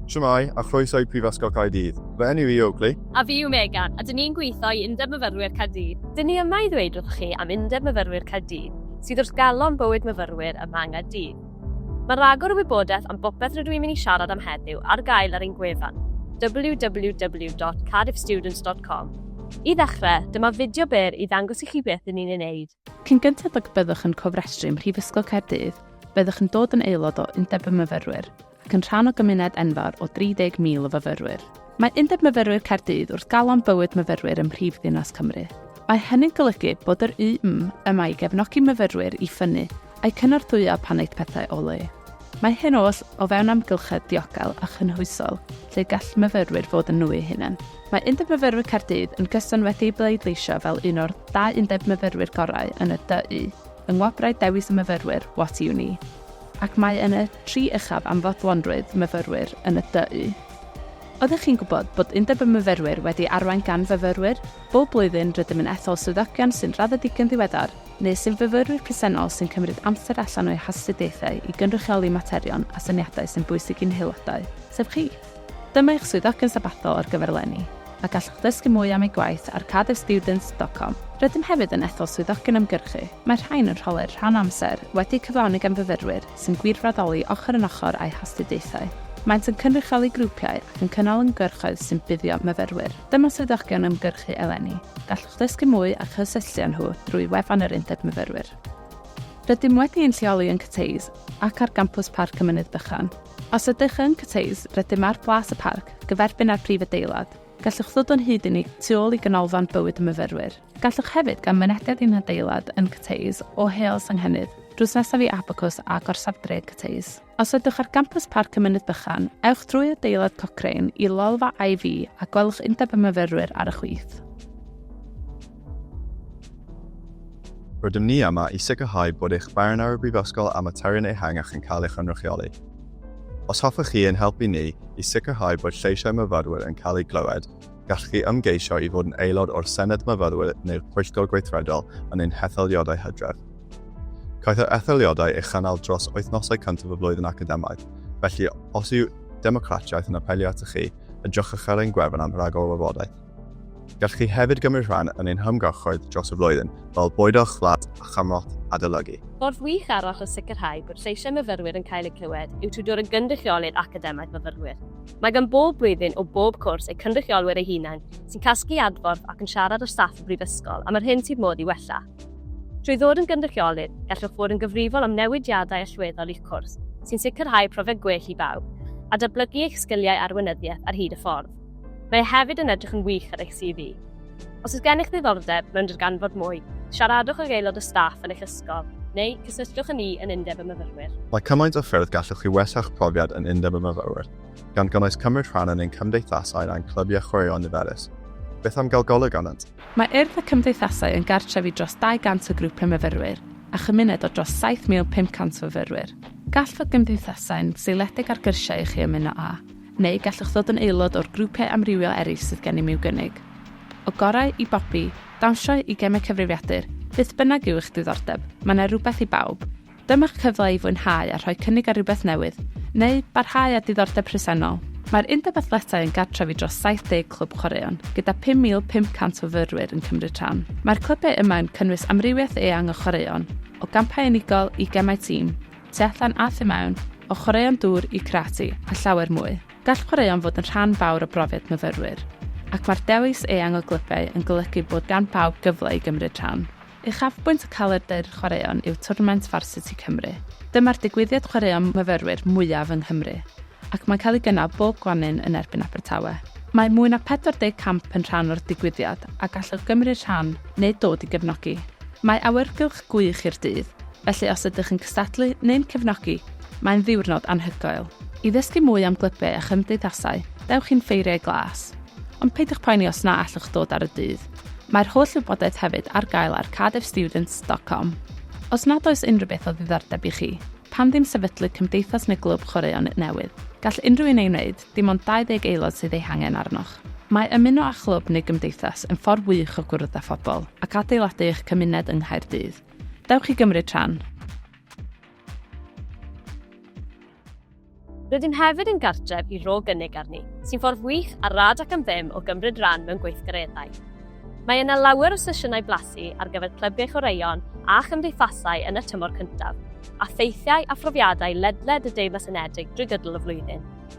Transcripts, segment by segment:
Shwmae, a chroeso i Prifysgol Caerdydd. Fy enw i yw Oakley. A fi yw Megan, a dyn ni'n gweithio i Undeb Myfyrwyr Caerdydd. Dyn ni yma i ddweud wrthoch chi am Undeb Myfyrwyr Caerdydd, sydd wrth galon bywyd myfyrwyr ym Mhang a Dydd. Mae rhagor o wybodaeth am bopeth rydw i'n mynd i siarad am heddiw ar gael ar ein gwefan, www.cardiffstudents.com. I ddechrau, dyma fideo byr i ddangos i chi beth dyn ni'n ei wneud. Cyn gynted ag y byddwch yn cofrestru ym Mhrifysgol Caerdydd, byddwch yn dod yn aelod o Undeb y Myfyrwyr, ac yn rhan o gymuned enfawr o 30,000 o fyfyrwyr. Mae Undeb Myfyrwyr Caerdydd wrth galon bywyd myfyrwyr ym mhrif ddinas Cymru. Mae hynny'n golygu bod yr UM yma i gefnogi myfyrwyr i ffynnu a'u cynorthwyo pan aeth pethau o le. Mae hyn oll o fewn amgylchedd diogel a chynhwysol lle gall myfyrwyr fod yn nhw eu hunain. Mae Undeb Myfyrwyr Caerdydd yn gyson wedi'i bleidleisio fel un o'r dau undeb myfyrwyr gorau yn y DU yng Ngwobrau Dewis y Myfyrwyr What Uni. ac mae yn y tri uchaf am fodlonrwydd myfyrwyr yn y du. Oeddech chi'n gwybod bod Undeb y Myfyrwyr wedi arwain gan fyfyrwyr? Bob blwyddyn rydym yn ethol swyddogion sy'n raddedigion ddiweddar neu sy'n fyfyrwyr presennol sy'n cymryd amser allan o'u hastudiaethau i gynrychioli materion a syniadau sy'n bwysig i'n haelodau, sef chi. Dyma eich swyddogion sabathol ar gyfer eleni, a gallwch ddysgu mwy am eu gwaith ar cardiffstudents.com. Rydym hefyd yn ethol swyddogion ymgyrchu, mae'r rhain yn rholau'r rhan amser wedi'u cyflawni gan fyfyrwyr sy'n gwirfoddoli ochr yn ochr â'u hastudiaethau. Maent yn cynrychioli grwpiau ac yn cynnal ymgyrchoedd sy'n buddio myfyrwyr. Dyma swyddogion ymgyrchu eleni, gallwch ddysgu mwy a chysylltu â nhw drwy wefan yr Undeb Myfyrwyr. Rydym wedi ein lleoli yn Cathays ac ar gampws Parc y Mynydd Bychan. Os ydych yn cwtshïs, rydym ar Blas y Parc, gyferbyn â'r prif adeilad. Gallwch ddod o'n hyd i ni tu ôl i Ganolfan Bywyd y Myfyrwyr. Gallwch hefyd gael mynediad i'n hadeilad yn Cwtshïs o Heol Senghennydd, drws nesaf i Abacws a Gorsaf Dref Cwtshïs. Os ydych ar gampws Parc y Mynydd Bychan, ewch drwy adeilad Cochrane i lolfa IV a gwelwch Undeb y Myfyrwyr ar y chwith. Rydym ni yma i sicrhau bod eich barn ar y Brifysgol a materion ehangach yn cael ei chynrychioli. Os hoffech chi ein helpu ni i sicrhau bod lleisiau myfyrwyr yn cael eu clywed, gallwch chi ymgeisio i fod yn aelod o'r Senedd Myfyrwyr neu'r Pwyllgor Gweithredol yn ein hetholiadau hydref. Caiff yr etholiadau ei chynnal dros wythnosau cyntaf y flwyddyn academaidd, felly os yw Democratiaeth yn apelio atoch chi, edrychwch ar ein gwefan am ragor o wybodaeth. Gallwch chi hefyd gymryd rhan yn ein hymgyrchoedd dros y flwyddyn, fel bwydo eich fflat a chymorth adolygu. Ffordd wych arall o sicrhau bod lleisiau myfyrwyr yn cael eu clywed yw trwy dod yn gynrychiolydd academaidd fyfyrwyr. Mae gan bob blwyddyn o bob cwrs eu cynrychiolwyr eu hunain sy'n casglu adborth ac yn siarad â staff y Brifysgol am yr hyn sydd modd ei wella. Trwy ddod yn gynrychiolydd, gallwch fod yn gyfrifol am newidiadau allweddol i'ch cwrs, sy'n sicrhau profiad gwell i bawb, a datblygu eich sgiliau arweinyddiaeth ar hyd y ffordd. Mae hefyd yn edrych yn wych ar eich CV. Os oes gennych ddiddordeb mewn darganfod mwy, siaradwch ag aelod o staff yn eich ysgol, neu cysylltwch â ni yn Undeb y Myfyrwyr. Mae cymaint o ffyrdd gallwch chi wella'ch profiad yn Undeb y Myfyrwyr, gan gynnwys cymryd rhan yn ein cymdeithasau a'n clybiau chwaraeon niferus. Beth am gael golwg arnynt? Mae Urdd y Cymdeithasau yn gartref i dros 200 o grwpiau myfyrwyr a chymuned o dros 7,500 o fyfyrwyr. Gall fod gymdeithasau'n seiliedig ar gyrsiau i chi ymuno â. Neu gallwch ddod yn aelod o'r grwpiau amrywiol eraill sydd gennym i'w gynnig. O gorau i bopi, dawnsio i gemau cyfrifiadur, beth bynnag yw eich diddordeb, mae yna rywbeth i bawb. Dyma'ch cyfle i fwynhau a rhoi cynnig ar rywbeth newydd, neu barhau â diddordeb presennol. Mae'r Undeb Athletau yn gartref i dros 70 clwb chwaraeon, gyda 5,500 o fyrwyr yn cymryd rhan. Mae'r clybiau yma yn cynnwys amrywiaeth eang o chwaraeon, o gampau unigol i gemau tîm, tu allan a thu mewn, o chwaraeon dŵr i karate a llawer mwy. Gall chwaraeon fod yn rhan fawr o brofiad myfyrwyr, ac mae'r dewis eang o glybiau yn golygu bod gan bawb gyfle i gymryd rhan. Uchafbwynt y calendr chwaraeon yw twrnament Varsity Cymru. Dyma'r digwyddiad chwaraeon myfyrwyr mwyaf yng Nghymru, ac mae'n cael ei gynnal bob gwanwyn yn erbyn Abertawe. Mae mwy na 40 camp yn rhan o'r digwyddiad a gallwch gymryd rhan neu dod i gefnogi. Mae awyrgylch gwych i'r dydd, Felly os ydych yn cystadlu neu'n cefnogi, mae'n ddiwrnod anhygoel. I ddysgu mwy am glybiau a chymdeithasau, dewch i'n Ffeiriau Glas. Ond peidiwch poeni os na allwch ddod ar y dydd. Mae'r holl wybodaeth hefyd ar gael ar cardiffstudents.com. Os nad oes unrhyw beth o ddiddordeb i chi, pam ddim sefydlu cymdeithas neu glwb chwaraeon newydd? Gall unrhyw un ei wneud, dim ond 20 aelod sydd eu hangen arnoch. Mae ymuno â chlwb neu gymdeithas yn ffordd wych o gwrdd â phobl ac adeiladu eich cymuned yng Nghaerdydd. Dewch i gymryd rhan! Rydym hefyd yn gartref i Ro Gynnig Arni, sy'n ffordd wych a rad ac am ddim o gymryd rhan mewn gweithgareddau. Mae yna lawer o sesiynau blasu ar gyfer clybiau chwaraeon a chymdeithasau yn y tymor cyntaf, a theithiau a phrofiadau ledled y Deyrnas Unedig drwy gydol y flwyddyn.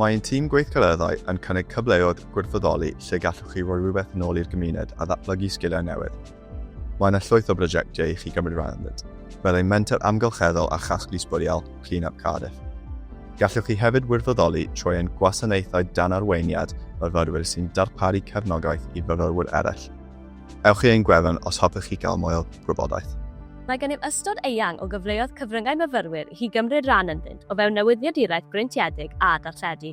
Mae ein tîm gweithgareddau yn cynnig cyfleoedd gwirfoddoli lle gallwch chi roi rhywbeth yn ôl i'r gymuned a ddatblygu sgiliau newydd. Mae yna llwyth o brosiectiau i chi gymryd rhan ynddynt, fel ein menter amgylcheddol a chasglu sbwriel, Clean Up Cardiff. Gallwch chi hefyd wirfoddoli trwy ein gwasanaethau dan arweiniad myfyrwyr sy'n darparu cefnogaeth i fyfyrwyr eraill. Ewch i ein gwefan os hoffech chi gael mwy o gwybodaeth. Mae gennym ystod eang o gyfleoedd cyfryngau myfyrwyr i chi gymryd rhan ynddynt o fewn newyddiaduraeth breintiedig a darlledu.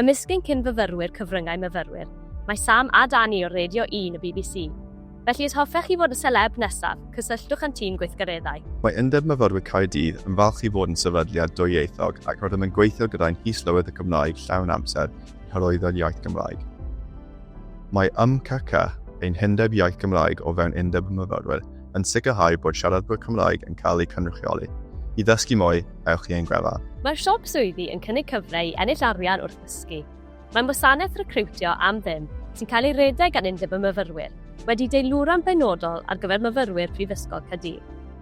Ymysg ein cyn-fyfyrwyr cyfryngau myfyrwyr, mae Sam a Danny o Radio Un y bbc. Felly os hoffech chi fod y seleb nesaf, cysylltwch â'n tîm gweithgareddau. Mae Undeb Myfyrwyr Caerdydd yn falch i fod yn sefydliad dwyieithog ac rydym yn gweithio gyda'n His-lywydd y Gymraeg llawn amser hyrwyddo'r iaith Gymraeg. Mae YMCC, ein hundeb iaith Gymraeg o fewn Undeb y Myfyrwyr, yn sicrhau bod siaradwyr Cymraeg yn cael eu cynrychioli. I ddysgu mwy, ewch i ein gwefan. Mae'r Siop Swyddi yn cynnig cyfle i ennill arian wrth ddysgu. Mae'n wasanaeth recriwtio am ddim sy'n cael ei redeg gan Undeb y Myfyrwyr, wedi deilwra'n benodol ar gyfer myfyrwyr Prifysgol Caerdydd.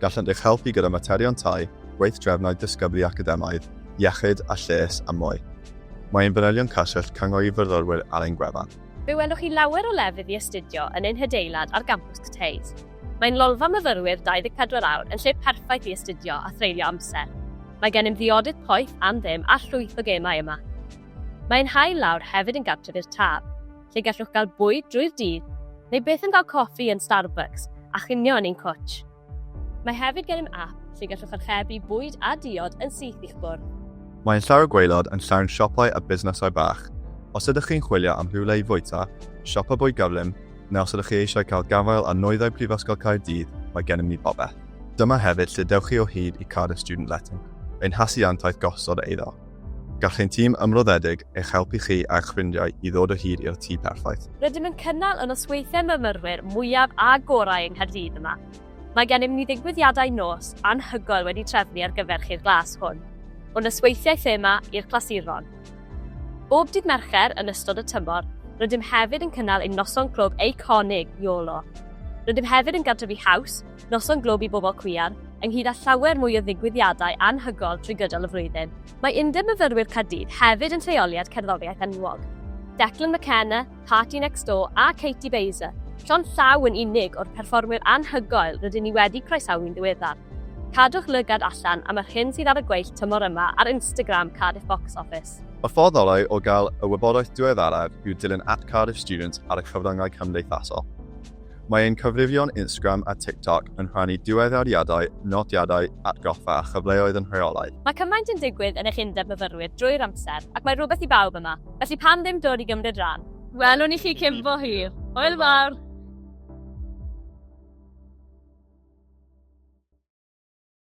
gallant eich helpu gyda materion tai, gweithdrefnau dysgyblu academaidd, iechyd a lles a mwy. Mae ein fanylion cyswllt cyngor i fyfyrwyr ar ein gwefan. Fe welwch chi lawer o lefydd i astudio yn ein hadeilad ar gampws Cathays. Mae'n lolfa myfyrwyr 24 awr yn lle perffaith i astudio a threulio amser. Mae gennym ddiodydd poeth am ddim a llwyth o gemau yma. Mae ein hail lawr hefyd yn gartref i'r Taf. lle gallwch gael bwyd drwy'r dydd, neu byth yn cael coffi yn Starbucks a chinio yn ein cwtsh. Mae hefyd gennym ap lle gallwch archebu bwyd a diod yn syth i'ch bwrdd. Mae ein llawr gwaelod yn llawn siopau a busnesau bach. Os ydych chi'n chwilio am rhywle i fwyta, siopa bwyd gyflym, neu os ydych chi eisiau cael gafael ar nwyddau Prifysgol Caerdydd, mae gennym ni bopeth. Dyma hefyd lle dewch chi o hyd i Cardiff Student Letting, ein hasiantaeth gosod eiddo. Gall ein tîm ymroddedig eich helpu chi a'ch ffrindiau i ddod o hyd i'r tŷ perffaith. Rydym yn cynnal y nosweithiau myfyrwyr mwyaf a gorau yng Nghaerdydd yma. Mae gennym ni ddigwyddiadau nos anhygoel wedi trefnu ar gyfer chi'r glas hwn, o nosweithiau thema i'r clasuron. Bob dydd Mercher yn ystod y tymor, rydym hefyd yn cynnal ein noson clwb eiconig, YOLO. Rydym hefyd yn gartrefu haws, Noson Glwb i Bobl Cwiar, ynghyd â llawer mwy o ddigwyddiadau anhygoel trwy gydol y flwyddyn. Mae Undeb Myfyrwyr Caerdydd hefyd yn lleoliad cerddoriaeth enwog. Declan McKenna, Party Next Door a Katie Baser, llond llaw yn unig o'r perfformwyr anhygoel rydyn ni wedi croesawu'n ddiweddar. Cadwch lygad allan am yr hyn sydd ar y gweill tymor yma ar Instagram Cardiff Box Office. Y ffordd orau o gael y wybodaeth diweddaraf yw dilyn at Cardiff Students ar y cyfryngau cymdeithasol. Mae ein cyfrifion Instagram a TikTok yn rhannu diweddariadau, nodiadau, atgoffa a chyfleoedd yn rheolaidd. Mae cymaint yn digwydd yn eich undeb myfyrwyr drwy'r amser, ac mae rhywbeth i bawb yma, felly pam ddim dod i gymryd rhan? Welwn i chi cyn bo hir! Hwyl fawr!